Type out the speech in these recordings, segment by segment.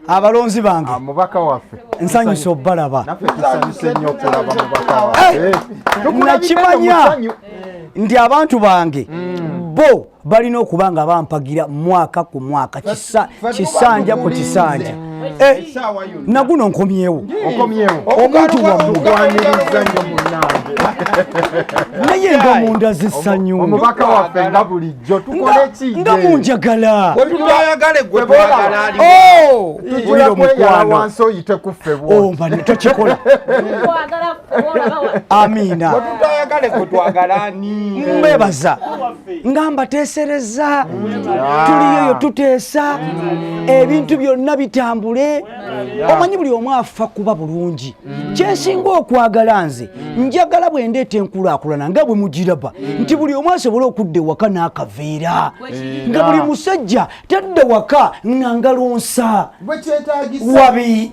abalonzi bange ah, mubaka waffe nsanyusa obalaba nakimanya nti abantu bange mm. bo balina okuba nga bampagira mwaka ku mwaka kisanja ku kisanja eh, naguno nkomyewo omuntu wamugwaniriza nyo munange naye nga munda zisanyu omubaka waffe nga bulijjo tukoleki nga munjagala wetutayagale gwe twagala oh! tujira omukwano wansi oyite kuffe bwomba oh, tokikola amiina wetutayagale gwe twagala ni mbebaza nga mbateesereza tuliyoyo tuteesa ebintu byonna bitambule omanyi buli omu afa kuba bulungi kyensinga okwagala nze njagala bwe ndeeta enkulaakulana nga bwe mugiraba nti buli omu asobole okudda ewaka n'akaveera nga buli musajja tadda waka nga ngalonsa wabi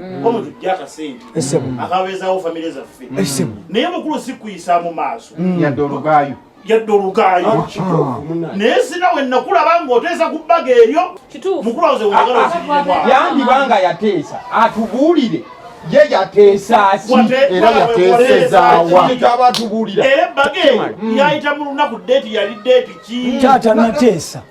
mm. omuntu tujja akasente akabeezawo famire zaffe naye mukulu sikuyisa mu maaso mm. yadde olugaayo yadde olugaayo ah, ah. naye sina we nakulaba ngaoteesa ku bbaga eryo mukulu awoze weyagalayandiba nga yateesa atubuulire ye yateesaaki era yateesezaawa kyaba atubuulira era ebbage yayita mu lunaku deeti yali deeti ki taata nateesa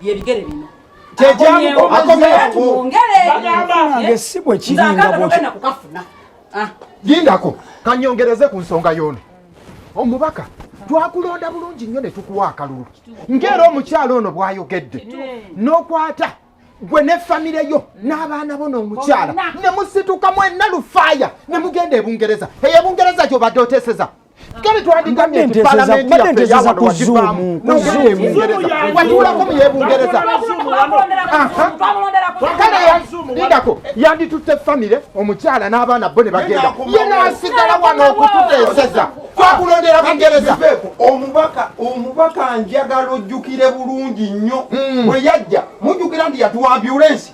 byebigere bino lindako ah. kanyongereze ku nsonga yono omubaka twakulonda bulungi nnyo ne tukuwa akalulu ngaera omukyalo ono bwayogedde n'okwata gwe ne famire yo n'abaana bo n'omukyala ne musituka mwenna lufaaya ne mugenda ebungereza eyo ebungereza gyobadde oteseza kale twandigamye nti palamenti yaffe yawano wakivaamu watulako mu yebungereza kale lindako yanditutte famire omukyala n'abaana bo ne bagenda ye nasigala wano okututeeseza twakulondera bungereza omubaka omubaka njagala ojjukire bulungi nnyo hmm. bwe yajja mujjukira nti yatuwa ambulensi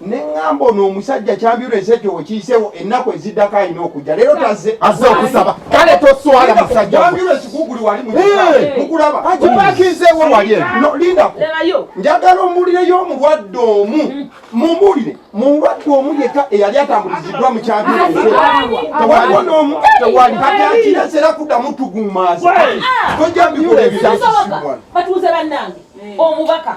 neŋŋamba ono omusajja kyambiula ensi ekyo wekiyiseewo ennaku eziddako alina okujja leero tazze azze okusaba kale toswala musajjakyambiula ekikuguli wali mukulaba okipakinzeewo wali lindako njagala omuwulireyo omulwadde omu mm. mumuwulire mulwadde omu yeka eyali atambuliziddwa mu kyambiula tewaliwo n'omu tewali kati akirese era kuddamu tugumaza tojambiula ebirasisiwana batuuze bannange omubaka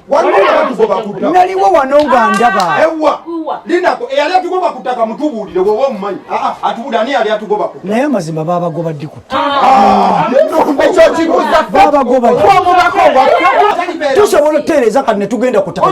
naliwo wano nga ndaba eyali atugoba ku ttaka mutubuulire woba omumanyi atubuulire ani yali atugoba ku naye amazima babagoba ddi ku tusobola okutereeza kati netugenda ku ttaka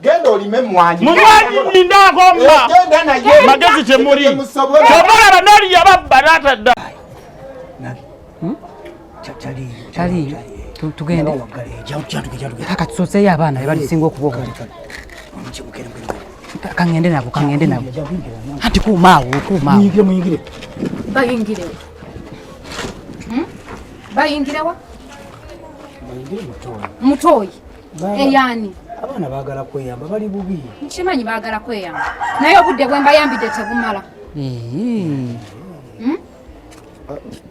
genda olime mwanyi mumwanyi ninda ngomba eh, genda naye magezi temuri tomala banali yababba natadda hmm? chali chali tugende kaka tusoseyo abaana bebalisinga okuba obuli kangende nabo kangende nabo anti kuumaawo kuumaawo bayingirewo hmm? bayingirewa mutoyi eyani abaana bagala kweyamba bali bubi nkimanyi bagala kweyamba naye obudde bwe mbayambidde tebumala hmm?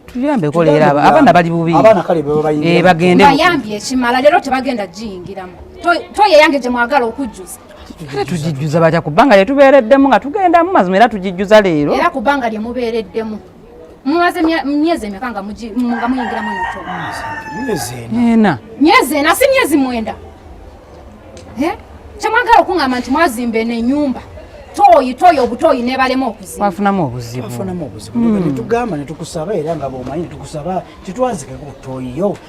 tuyambeko leero abaana bali bubi eh, bagende bayambye ekimala leero tebagenda giyingiramu toye yange gye mwagala okujjuza kale tugijjuza batya kubanga lyetubeereddemu nga tugendamu mazima era tugijjuza leero era kubanga lyemubeereddemu mumaze myezi emeka nga muyingiramu ena myezi ena si myezi mwenda eh? kyemwagala okuŋamba nti mwazimba eno enyumba toyi toyi obutoyi nebalema okuzibafunamu obuzibunetugambanetugusaba era nga bomanyi netukusaba titwazikeko toyiyo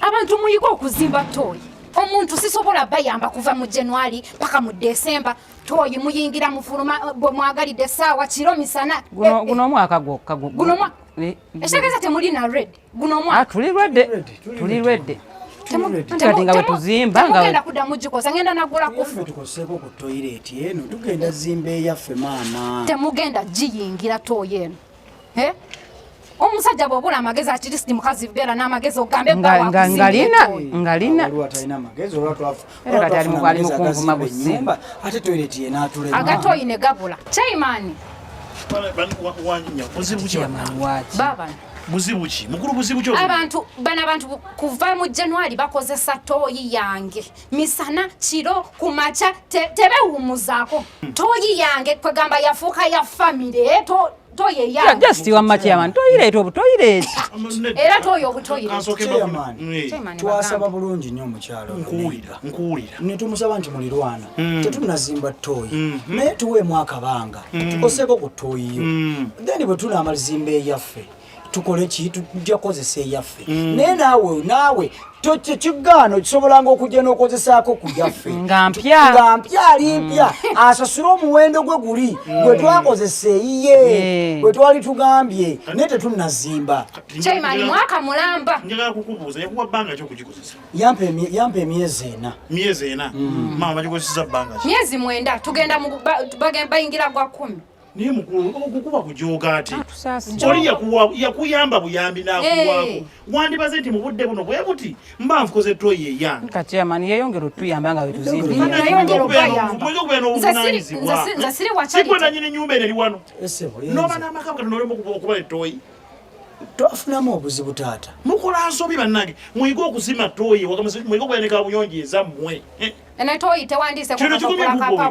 abantu muyige okuzimba tooyi omuntu sisobola bayamba kuva mu january paka mu december tooyi muyingira mufuluma eh, bwe mwagalidde saawa kiro misana guno eh, eh. omwaka gwokka ekitegeeza temuli na red guno omwaka ah, tuli lwedde tuli lwedde kati nga wetuzimba ngagenda kudda mugikosa ngenda nagula kufutukoseeko ku toyireti eno tugenda zimba eyaffe maama temugenda giyingira tooyi eno Eh? omusajja bwobula amagezi akirisi mukazi beera n'amagezi ogambe ngalina ngalina agatoyine gabula chaimani buzibu ki mukulu buzibu ki abantu bano abantu kuva mu january bakozesa tooyi yange misana kiro kumakya tebewumuzaako toyi yange kwegamba yafuuka ya famire eh, just wamma chairman toyireeta obutoyireeti era toyo obutoyireetitwasaba bulungi nnyo omukyalo ne tumusaba nti mulirwana mm. tetunazimba toyi mm-hmm. naye tuweemu akabanga mm. tukoseeko ku toyiyo mm. then bwe tunaamazimba eyaffe tukole ki tujja kozesa eyaffe mm. naye naawe naawe kigaano kisobolanga okujja n'okozesaako ku yaffe nga mpya ali mpya mm. asasule omuwendo gwe guli mm. gwe twakozesa eyiye eh. gwe twali tugambye naye tetunnazimba yampa emyezi ena myezi ena maama bagikozesa bbanga myezi mwenda tugenda bayingira gwa kumi naye mukulu okukuba kujooga ate oli yakuyamba buyambi nakuwaako wandibaze nti mu budde buno bwe buti mba nfukoze toyi eyange katyamani yeyongera otuyamba nga wetuzimbinzasiri nanyini nyumba eno eri wano noba n'amaka kati nolema okuba etoyi twafunamu obuzibu taata mukola nsobi bannange muyige okuzima toyi muyige okuyanika buyonjo ezammwe eh? kino kikumye kukuba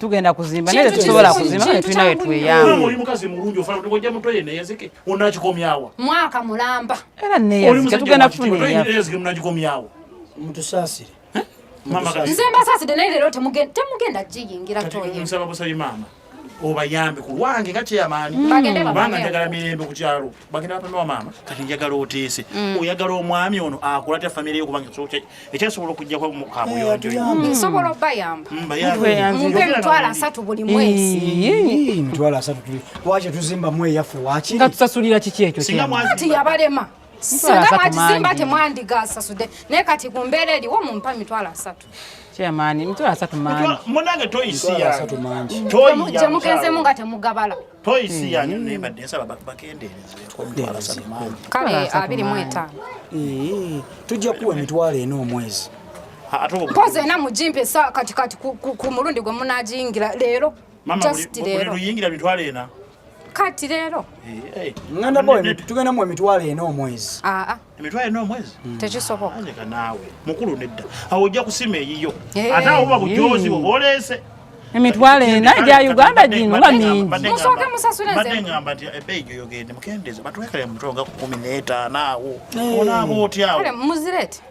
tugenda kuzimba naye tetusobola kuzimba naye tulina wetweyamuomukazimuunjionakikomyawa mwaka mulamba era neyazikatugenda kufunaeyazimunagikomyawo mutusasire nze mbasaside naye lero temugenda giyingira toye nsaba busabi maama obayambe ku lwange nga kyeyamaani mm. kubanga njagala mirembe ku kyalo bagenda bapame wa maama kati njagala oteese mm. oyagala omwami ono akula tya famire yo kubanga ekyasobola okujjako mukabuyonjosobola mm. obayambeobeemitwalo asatu buli mwezi mitwalo asatu lwaki tuzimbamu eyaffe wakiri nga tusasulira kiki ekyo singa mwazi tiyabalema singa mwakizimba temwandigasasude naye kati ku mbeera eriwo mumpa mitwalo asatu kyamaani mitwalo asatu mangi munange toyisi asatu mangi gye mugenzemu nga temugabala toyisi yanyu hmm. nebadde nsaba bakendeerezemitwalo asatu mangi kale abiri mu etaano tujja kuwa emitwalo ena omwezi mpozi ena mugimpa esa katikati ku mulundi gwe munagiyingira leero just leero luyingira mitwalo ena kati leero nganda boy tugenda mu emitwalo ena omwezi aa ah, ah. emitwalo ena omwezi hmm. tekisoboka anyeka naawe mukulu nedda awo ojja kusima eyiyo eh. ate awo buba bujozi bwe bwoleese emitwalo ena egya uganda gino nga mingimusooke musasulengamba nti ebbeyi gyoyogende mukendeze batwekale mutwe nga kumi n'etaano awo eh. onaaba otyawo muzirete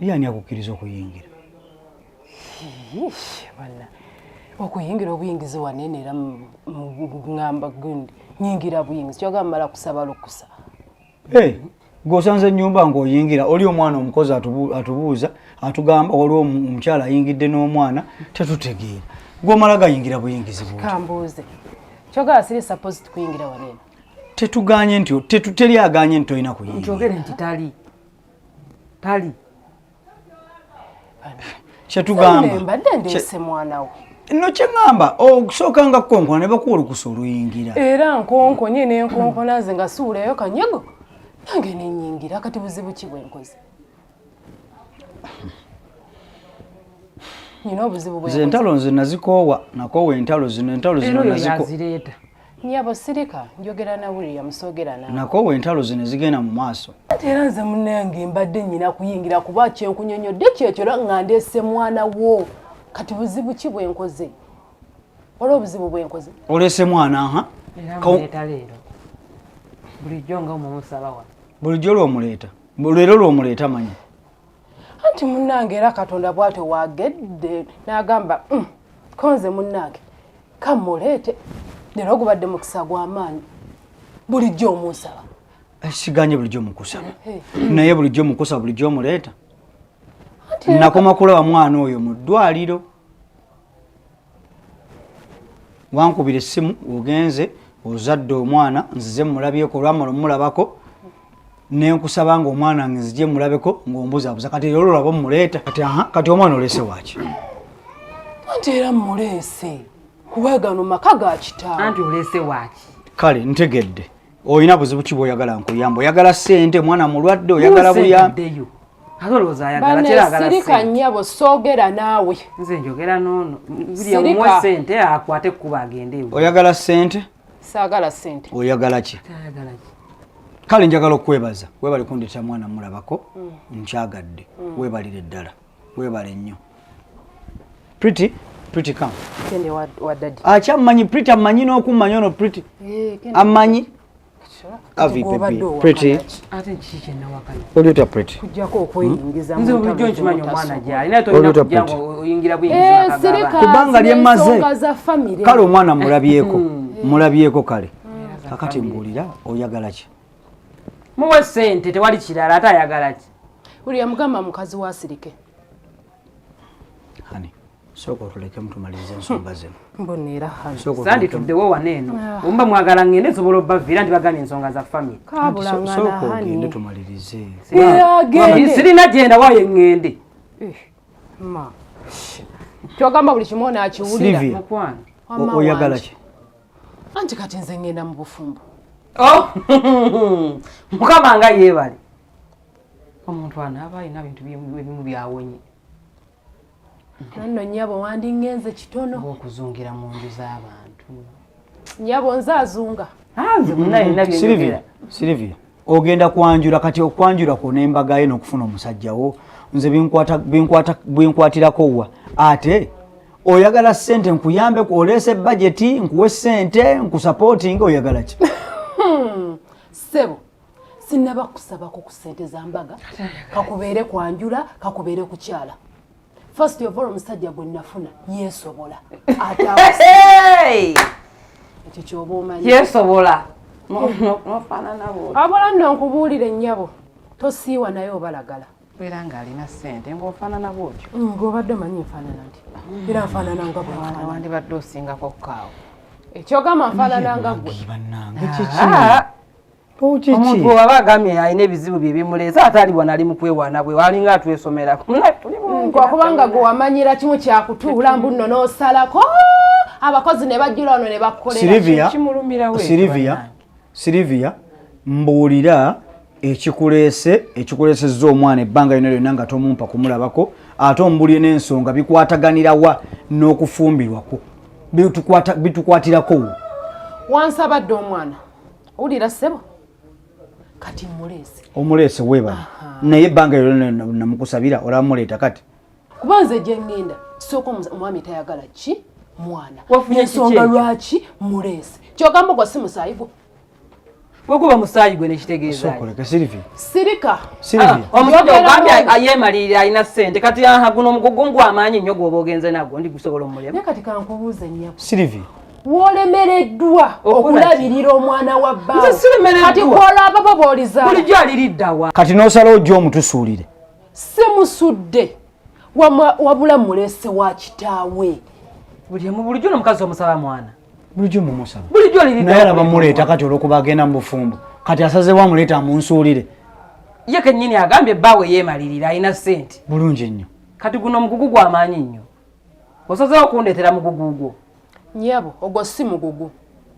ye ani akukkiriza okuyingira bana okuyingira obuyingizi wanene era ngamba gundi nyingira buyingizi kyogamba mala kusaba lukusa eh, gwosanze enyumba ngaoyingira oli omwana omukozi atubuuza atugamba waliwo omukyala ayingidde n'omwana tetutegeera gwomala gayingira buyingizi kambuuze kyogamba siri sapozi tukuyingira wanene tetuganye nti tetuteri aganye nti tolina kuyingira nti tali tali kyetugamba mbadde ndeese mwana we no kyeŋamba okusooka nga konkona ne bakuwa olukusa oluyingira era nkonkonye nenkonkona nze nga siwulayo kanyego nange nenyingira kati buzibu ki bwenkoze nina obuzibu bwenkoze entalo nze nazikoowa nakoowa entalo zino entalo zino naziko Nyabo sirika njogera na William sogera na. Nako wentalo zino zigenda mu maaso. Era nze munenge mbadde nyina kuyingira kuba kye nkunyonyo de kye kyo nga ndese mwana wo. Kati buzibu ki bwe nkoze? Olo buzibu bwe nkoze. Olese mwana ha? Ko talero. Bulijjo nga omumusaba wa. Bulijjo lo muleta. Bulero lo muleta manyi. anti munnange era katonda bwatyo wagedde n'agamba mm, konze munnange kamuleete leero ogubadde mukisa gw'amaanyi bulijjo omunsaba eh, siganye bulijjo mukusaba eh, eh. naye bulijjo mukusaba bulijjo omuleeta nakoma kulaba mwana oyo mu ddwaliro wankubira essimu ogenze ozadde omwana nzize mulabyeko olwamala omulabako nenkusaba nga omwana nge nzije mulabeko ngaombuzabuza kati era olulaba omuleeta kati aha kati omwana oleese waki anti era muleese kuba gano maka ga kitaawe anti oleese waki kale ntegedde olina buzibu ki bwoyagala nkuyamba oyagala sente omwana mulwadde oyagala buyambeyo sirika nyabo sogera naawe nze njogera nono muwe sente akwate kukuba agende oyagala sente sagala sente oyagala ki kale njagala okwebaza webali kundeta mwana mulabako mm. nkyagadde mm. webalire ddala webale nnyo pretty pretty come kende wa, wa daddy acha manyi pretty amanyi no kumanya ono pretty eh kende amanyi avi pepi pretty ate chiche na wakana olio ta pretty kujja ko ko ingiza mu nzo bijo nchimanyo mwana ja ina to ina kujja ko ingira bu ingiza eh sirika kubanga lye maze kale omwana mulabyeko mm. mulabyeko kale kakati mbulira oyagala ki muwe sente tewali kirala ate ayagala ki buli yamugamba mukazi wasirike hani sooka otulekemu tumalirize ensonga hmm. zino mboneera sandi tuddewo wano eno ah. omuba mwagala ngende nsobola obaviira nti bagambye ensonga za famiry sooka ogende tumalirize sirina gyenda wayo eŋŋende eh, kyogamba buli kimu onaakiwulira oyagalaki anti kati nze ngenda mu bufumbo oh! mukama nga yeebale omuntu anaaba alina bintu ebimu byawonye nanno nyabo wandingenze kitono okuzungira mu nju z'abantu nyabo nze azunga ah, nze munaye nabyenjogera silivia ogenda kwanjula kati okwanjula kwona embaga ye nokufuna omusajja wo nze binkwatirako wa ate oyagala sente nkuyambe oleese bajeti nkuwe sente nkusapootinga oyagala ki hmm, sebo sinaba kusabako ku sente za mbaga kakubeere kwanjula kakubeere kukyala First of all omusajja gwe nafuna yesobola ekyo kyoba omanyi yesobola abula nno nkubuulira ennyabo tosiiwa naye obalagala beera ng'alina ssente ng'ofaanana bwotyo mm, ng'obadde omanyi nfaanana nti era nfaanana nga bwewandibadde osingako kukaawo ekyogamba nfaanana nga gwe ah. omuntu waba agamye alina ebizibu bye bimuleese ate ali wanali mu kwewaana bwe walinga atwesomerako kubanga gwe wamanyira kimu kyakutuula mbu nno n'osalako abakozi ne bajjula ono ne bakkolerasilivia silivia mbuulira ekikuleese ekikuleesezza omwana ebbanga lyona lyonna nga tomumpa kumulabako ate ombulire n'ensonga bikwataganirawa n'okufumbirwako bitukwatirako wansabadde omwana owulira ssebo kati muleese omuleese webale naye ebbanga ero namukusabira olamuleeta kati kuba nze gyengenda sooka omwami tayagala ki mwana ensonga lwaki muleese kyogamba gwa si musaayi gwo wekuba musaayi gwe nekitegeezasirika ah, omusajja ogambye ayemalirira alina sente kati aha guno omugugu ngwamaanyi nnyo gwoba ogenze nagwo ndi gusobola omulema kati kankubuuze nnyabo wolemereddwa okulabirira omwana wa bbakati kwolaba babaolizabulijjo aliriddawa kati nosala ojja omutusuulire si musudde wabula mulese wa kitaawe bulijjo nomukazi omusaba mwana bulijjo mumusaba bulijjo alirinaye alaba muleeta kati olwokuba agenda mu bufumbo kati asazewo amuleeta amunsuulire ye kenyini agambye bbaawe yeemalirira alina sente bulungi nnyo kati guno omugugu gwamaanyi nnyo Osazeewo okundeetera mugugu gwo. Nyabo, ogwo si mugugu.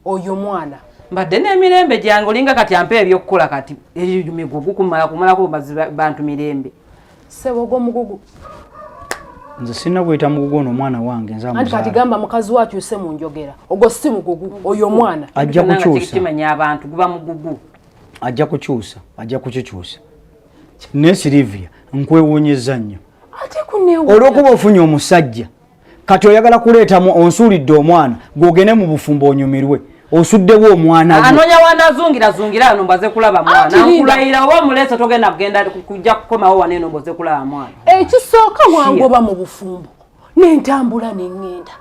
Oyo mwana. Mbadde n'emirembe gyange olinga kati ampa ebyokukola kati eyo migugu kumala kumalako bantu mirembe. Ssebo ogwo mugugu. Nze sirina gweta mugugu ono omwana wange nze amuzaala. Anti kati gamba mukazi wo akyuse mu njogera. Ogwo si mugugu. Oyo omwana. Ajja kukyusa. Kimanya abantu guba mugugu. Ajja kukyusa. Ajja kukikyusa. Naye Sylvia nkwewuunyizza nnyo. olwokuba ofunye omusajja kati oyagala kuleetamu onsuulidde omwana gwogende mu bufumbo onyumirwe osuddewo omwana anonya wanazungira zungira ano mbaze kulaba mwana nkulayira oba mulese togenda kugenda kujja kukomawo wano eno mbaze kulaba mwana ekisooka eh, wangoba mu bufumbo nentambula nengenda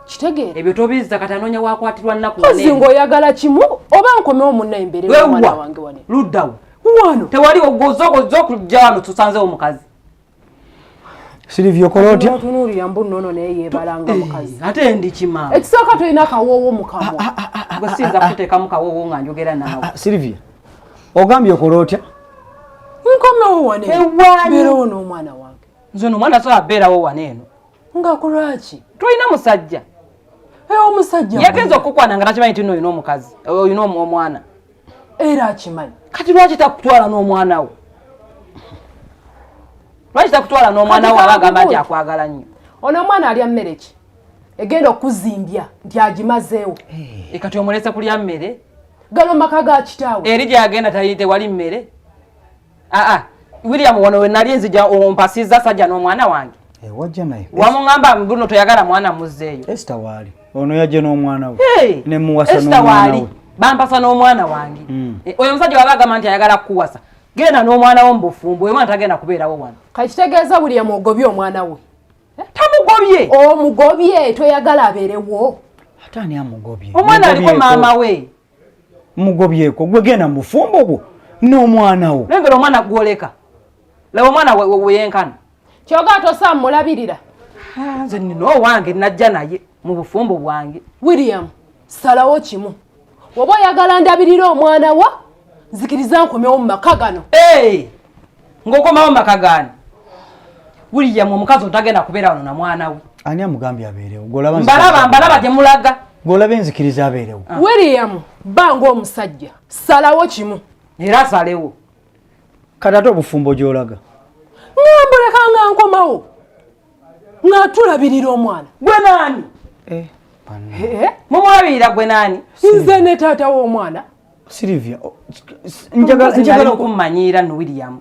kitegeera ebyo tobizza kati anonya wakwatirwa nnaku ozi ngaoyagala kimu oba nkomewo munna emberewa mwana wange wane luddawo wano tewali ogozogozo okujja wano tusanzewo mukazi silivyo kola otya tunuulira mbu nono naye yebalanga eh, mukazi ate ndi kima ekisooka tulina akawoowo mukamwa ah, ah, ah, gwe siyinza kuteekamu kawoowo nga njogera naawe silivia ogambye okola otya nkomewo wane ewabeerawo n'omwana wange nze no omwana sobola beerawo wane eno nga kulwaki tulina musajja eh, omusajja yagenza okukwana nga takimanyi tino olina omukazi olina omwana era akimanyi kati lwaki takutwala n'omwana wo lwaki takutwala n'omwana wo aba agamba nti akwagala nnyo ono omwana alya mmere ki egenda okuzimbya nti agimazeewo eh. eh, kati omulese kulya mmere gano maka ga kitaawe eri gyagenda tewali mmere aa ah, ah. William wano we nali nzija ompasiza sajja n'omwana wange eh, wajja naye wamungamba buno toyagala mwana muzzeeyo Esther waali ono yajja n'omwana we hey, ne muwasa n'omwana we bampasa n'omwana wange mm. e, oyo omusajja waba agamba nti ayagala kukuwasa genda n'omwana wo mu bufumbo oyo mwana tagenda kubeerawo wano kakitegeeza William ogobye omwana we eh? tamugobye omugobye toyagala abeerewo ate ani amugobye omwana aliko maama we mugobyeko gwe genda mubufumbo bwo n'omwana wo nengera omwana gwoleka laba omwana weyenkana kyoga ate osaa mulabirira ah, nze nina owange najja naye mu bufumbo bwange william salawo kimu oba oyagala ndabirira omwana wo nzikiriza nkomewo mu maka gano ngokomawo maka gani william omukazi otagenda kubeera wano na mwana we ani amugambye abeerewo mbalaba mbalaba gye mulaga ng'olaba enzikiriza abeerewo ah. william ba ng'omusajja salawo kimu era asalewo kati ate obufumbo gy'olaga ngambuleka nga nkomawo ng'atulabirira omwana gwe naani eh, eh, eh? mumulabirira gwe naani nze ne taata w'omwana Sylvia, oh, njagala njagala okummanyiira no William.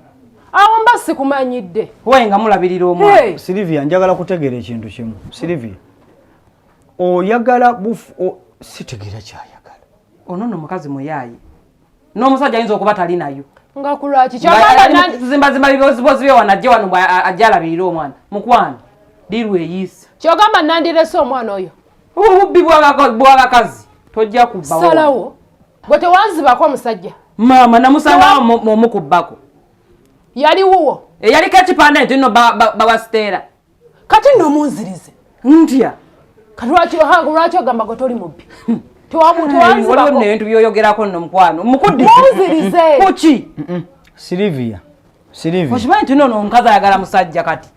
Awo mba sikumanyidde. Waye nga mulabirira omwana. Hey. Sylvia, njagala kutegeera ekintu kimu. Sylvia. Oyagala bufu o sitegeera kyayagala. Ono no mukazi muyayi. N'omusajja ayinza okuba tali nayo. Nga kulwaki kyagala nanti zimba zimba bibozi bozi byo wanajja wano ajala birira omwana. Mukwano. Dirwe yisa. Kyogamba nandirese omwana oyo. obubbi bwabakazi tojja kubasalawo bwe tewanzibako omusajja maama namusangawo omukubbako yali wuwo eyaliko ekipande nti no bawasiteera kati nno munzirize ntya kati lwaki ohange lwaki ogamba gwe toli mubbi hmm. tewamutewazibako naye ntu byoyogerako nno mukwano mukuddi munzirize kuki silivia Sirivi. Okimanyi tuno no omukazi ayagala musajja kati.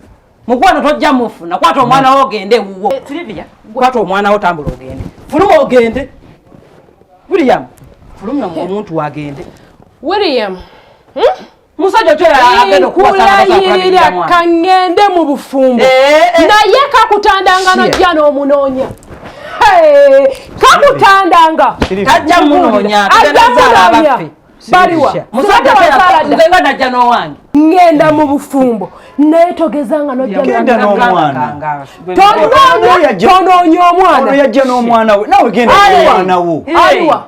Mukwano tojja mufuna kwata omwana wo ogende wuwo. Eh, Sirivia, kwata omwana wo tambula ogende. Fuluma ogende. William, fuluma mu omuntu wagende. William. Hmm? Musajja tera agenda kuwa sana kwa kwa. Kangende mu bufumbo. Eh, eh, eh. Na ye kakutanda ngano jana omunonya. Hey, kakutanda nga. Tajja munonya. Tajja munonya. baliwa musajja wasalada nze nga najja n'owange ngenda mu bufumbo naye togeza nga nojjagenda n'omwana tonoonya omwana yajja n'omwana we nawe genda n'omwana wo aliwa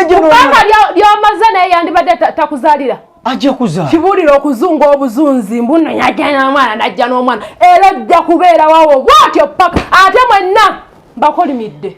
kubanga ly'omaze naye yandibadde takuzalira ajja kuza kibulira okuzunga obuzunzi mbuno yajja n'omwana najja n'omwana era ojja kubeera wawo bwatyo paka ate mwenna mbakolimidde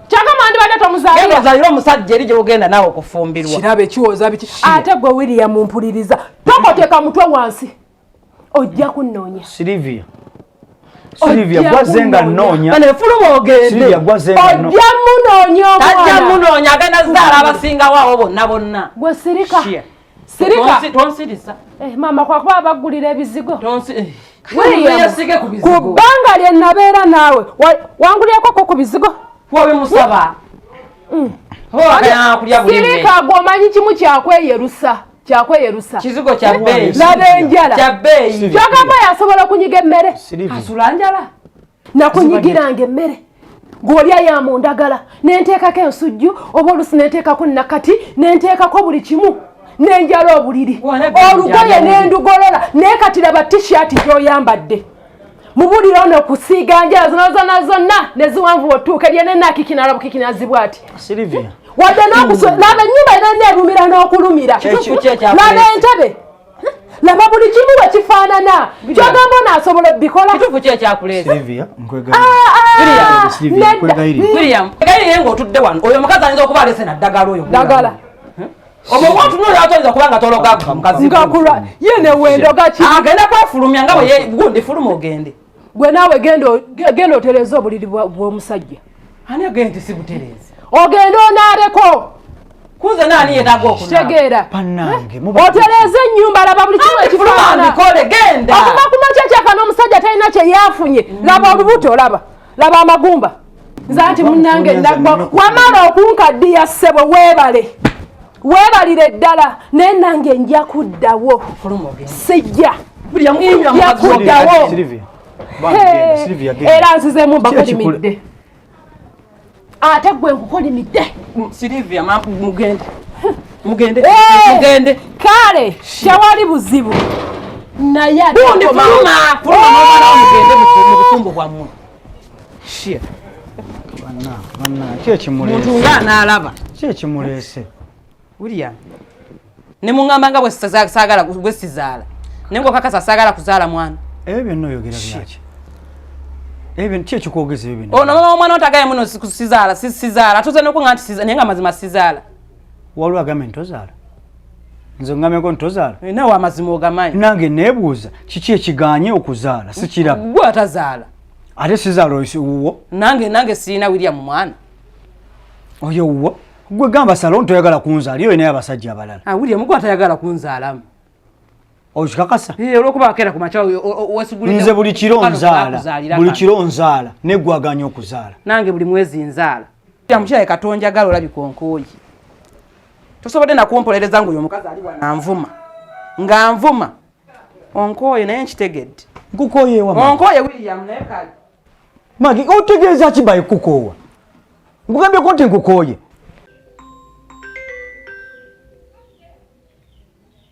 kyagamba ndibadde tomuzaalira ozaalira omusajja eri gyogenda naawe okufumbirwa kirabe kiwoza biki ate gwe william mpuliriza tokoteka mutwe wansi ojja kunnoonya silivia Silvia gwaze nga nonya. Bale fulumo ogende. Silvia gwaze nga nonya. Ojja munonya omwana. Tajja munonya agenda zara abasinga wawo bonna bonna. Gwe sirika. Sirika. Tonsirisa. Eh mama kwa kuba abagulira ebizigo. Tonsi. Eh. Ku banga lye nabeera naawe wangulyeko ko ku bizigo. Wabe musaba. Mm. Sirika gwe omanyi kimu kyakweyerusa kyakweyerusa kizigo kya bbeeyi laba enjala kyagamba yasobola okunyiga emmere asula njala nakunyigiranga emmere ng'olya ya mu ndagala nenteekako ensujju oba olusi nenteekako nakati nenteekako buli kimu nenjala obuliri olugoye nendugolola naye kati laba tishati gyoyambadde mubulire ono kusiiga njala zona zona zonna neziwanvu otuuka lyenenakikinalabukikinazibu ati wadde nokuso laba enyumba era neerumira n'okulumira laba entebe laba buli kimu bwe kifaanana kyogamba ono asobola obikola kituufu ki ekyakuleesaneddanaye ah, ngaotudde wano oyo omukazi ayinza okuba alese naddagala oyo dagala omuwatunoyatolzakubanga tologagenda kwefulumya nga bweyegundifuluma ogende gwe naawe genda otereeza obuliri bw'omusajja ani agenda nti si butereeza ogenda onaaleko kuza nani yetaga okutegeera otereeza ennyumba laba buli kimu ekifaanabikole genda okuva ku makya kyaka n'omusajja talina kye yafunye mm. laba olubuto laba laba amagumba nze anti munnange nagwa wamala okunkaddiya ssebo weebale weebalire ddala naye nange nja kuddawo sijja nja kuddawo era nzizemu bakolimidde ate gwe nkukolimidde mm, mugende eh, kale tewali buzibu naye Shit. Banna, banna, ki ekimulese? Muntu nga anaalaba. Ki ekimulese? William. Ne mungamba nga bwe saagala bwe sizaala. Ne ngo kakasa saagala kuzaala mwana. Ebyo byonna oyogera byaki? Ebyo ki ekikwogeza ebyo byonna? Ono mama omwana otagaye muno sizaala, sizaala. Tuze nokunga nti sizaala, naye nga mazima sizaala. waliwo agambe nti tozaala nze ngameko nti tozaala eh, nawe amazima ogamanyi nange nebuuza kiki ekiganye okuzaala sikiraba gwe atazaala ate sizaala owuwo nange nange sirina william mwana oyo owuwo gwe gamba salon toyagala kunzaala iyo inaye abasajja abalala ah, william gwe atayagala kunzaalamu okikakasa eh, olwokuba akera ku makya nze buli kiro nzaala buli kiro nzaala negwaganya okuzaala nange buli mwezi nzaala mukyala katonjagala olabika onkooyi tosobodde nakumpolereza ngaoyo omukazi ali wananvuma nga nvuma onkooye naye nkitegedde nkukoyeonkooye william naye kale magi otegeeza ki baye kukoowa nkugambyeko nti nkukooye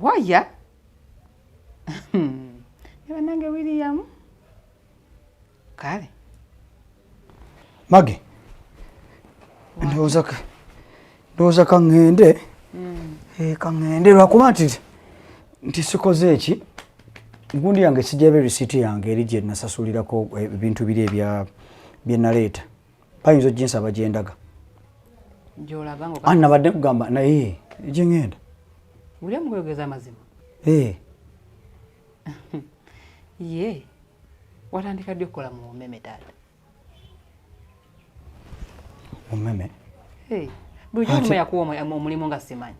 waya hmm. banange william kale mage ndowooza kaŋŋende hmm. eh, kaŋŋende lwakuba nti nti sikoze eki gundi yange sijaba erisiiti yange eri gye nasasulirako eh, ebintu biri ebya bye naleeta bayinza oginsaba gyendaga nabadde kugamba naye gyengenda uliamuyogeza amazima eh. ye watandika ddi okukola mu umeme taata umeme eh. bulijjo nyuma yakuwa omulimu nga simanyi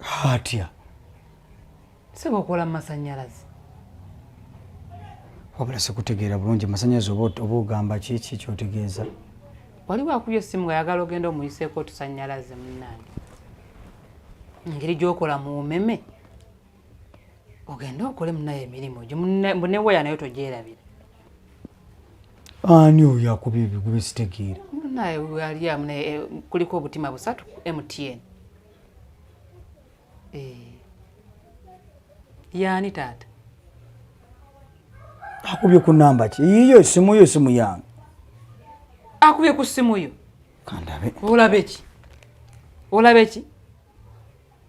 hatya sebo okola masanyalaze wabula sikutegeera bulungi masanyalaze oba ogamba kiki kyotegeeza wali wakubya essimu nga yagala ogenda omuyiseeko otusanyalaze munange engeri gyokola mu umeme ogende okole munaye emirimu gyo neweya nayo togyerabira ani oyo akuba ebigube sitegeera munaye waliamunaye eh, kuliko obutima busatu mtn Eh. yaani taata akubye ku namba ki yiyo esimu yo esimu yange akubye ku simu yo kandabe olabe ki olabe ki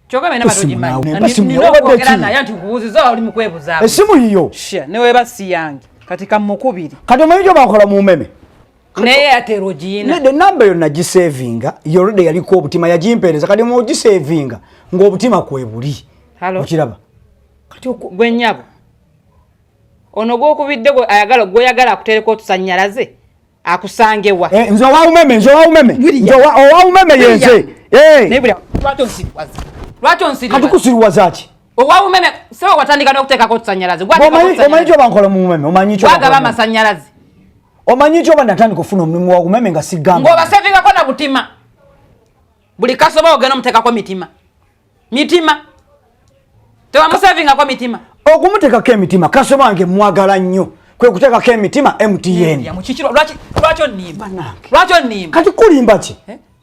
kyoka bena batogimanyiogera naye nti nkubuuziza oli mukwebuza esimu yiyo neweba si yange kati kamukubiri kati omanyi gyo bakola mu meme naye ate rojina ne number yona gi savinga yorode yali ko obutima ya jimpereza kadi mo gi savinga ngo obutima kwe buli halo okiraba kati oku gwe nyabo ono gwo kubidde gwe ayagala gwe yagala akutereko otusanyalaze akusange wa eh nzo wa umeme nzo wa umeme nzo wa oh, wa umeme yenze eh ne bula lwato nsiriwaza lwato nsiriwaza kati kusiriwaza ki owa oh, umeme sewa watandika n'okuteekako otusanyalaze gwa omanyi omanyi kyo bankola mu umeme omanyi kyo bagaba amasanyalaze omanyi nti oba natandika okufuna omulimu wa umeme nga sigamba ng'obasevingako na butima buli kasoba ogenda omuteekako mitima mitima tewamusevingako mitima okumuteekako emitima kasoba wange mwagala nnyo kwe kuteekako emitima mtn lwaki onimba kati kulimba ki eh?